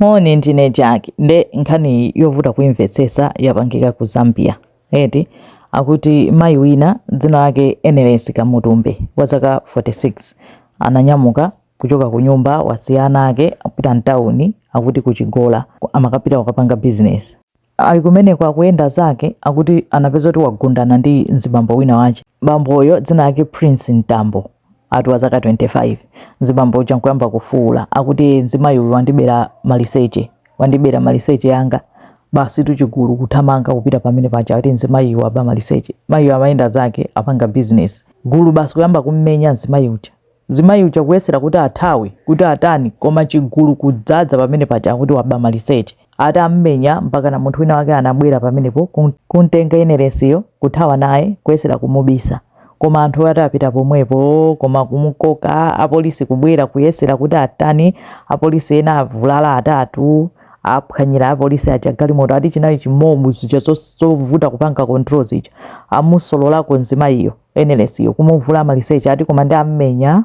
Moni ndine Jack nde nkhani yovuta kuimvetsesa yapangika ku Zambia eti akuti mayi wina dzina lake Enelesi Kamutumbe wa zaka 46 ananyamuka kuchoka kunyumba wasiya ana ake akupita mtauni akuti ku Chigola amakapita kukapanga business Ali kumeneko akuyenda zake akuti anapeza kuti wagundana ndi mzibambo wina wache. Bamboyo dzina lake Prince Mtambo ati wa zaka 25. Mzibambo uja nkuyamba kufuula akuti ee mzimayi uyu wandibera maliseche, wandibera maliseche anga. Basi tu chigulu kuthamanga kupita pamene paja ati mzimayiyu waba maliseche. Mayiyu amayenda zake apanga business. Gulu basi kuyamba kummenya mzimayi uja. Mzimayi uja kuyesera kuti athawe kuti atani koma chigulu kudzadza pamene paja akuti waba maliseche. Atammenya mpakana munthu wina wake anabwera pamenepo kumtenga Enelesiyo kuthawa naye kuyesera kumubisa. Koma anthuwo ati apita pomwepo koma kumukoka apolisi kubwera kuyesera kuti atani apolisi ena avulala atatu aphwanyira apolisi aja galimoto ati chinali chi mob zija zovuta kupanga control zija. Amusololako mzimayiyo. Enelesiyo kumuvula maliseche ati koma ndi ammenya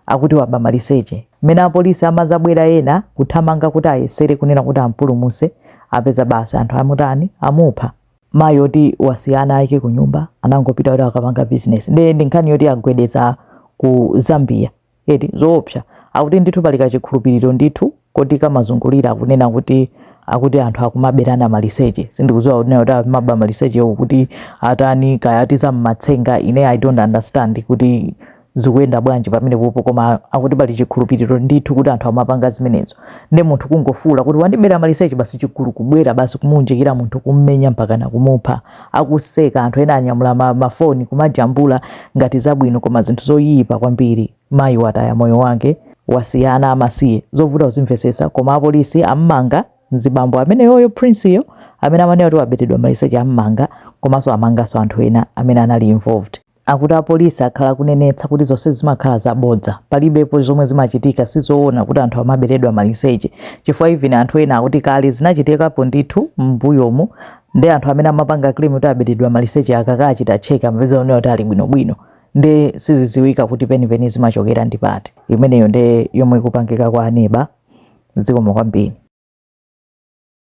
akuti waba maliseche. Mmene apolisi amazabwera ena kuthamanga kuti ayesere kunena kuti ampulumuse apeza basi anthu amutani amupha. Mayi oti wasiya ana ake kunyumba anangopita kuti akapange business nde ndi nkhani yoti yagwedeza ku Zambia. eti zoopsa akuti ndithu pali kachikhulupiriro ndithu koti kamazungulira akunena kuti akuti anthu akumaberana maliseche sindikudziwa kunena kuti amaba malisechewo kuti atani kaya ati za mmatsenga ine i don't understand kuti zikuyenda bwanji pamenepopo koma akuti pali chikhulupiriro ndithu kuti anthu amapanga zimenezo nde munthu kungofuula kuti wandibera maliseche basi chigulu kubwera basi kumuunjikira munthu kummenya mpakana kumupha akuseka anthu ena anyamula ma, ma phone kumajambula ngati zabwino koma zinthu zoyipa kwambiri mayi wataya moyo wake wasiya ana amasiye zovuta kuzimvetsetsa koma apolisi ammanga mzibambo ameneyoyo Prince yo amene amanena kuti waberedwa maliseche ammanga komanso amanganso anthu ena amene anali involved Akuti apolisi akhala akunenetsa kuti zonse zimakhala zabodza, palibepo zomwe zimachitika, sizowona kuti anthu amaberedwa maliseche chifukwa even anthu ena akuti kale zinachitikapo ndithu mmbuyomu nde anthu amene amapanga claim kuti aberedwa maliseche akakachita check amapeza kunena kuti ali bwinobwino nde siziziwika kuti penipeni zimachokera ndi pati. Imeneyo nde yomwe ikupangika kwa aneba. Zikomo kwambiri.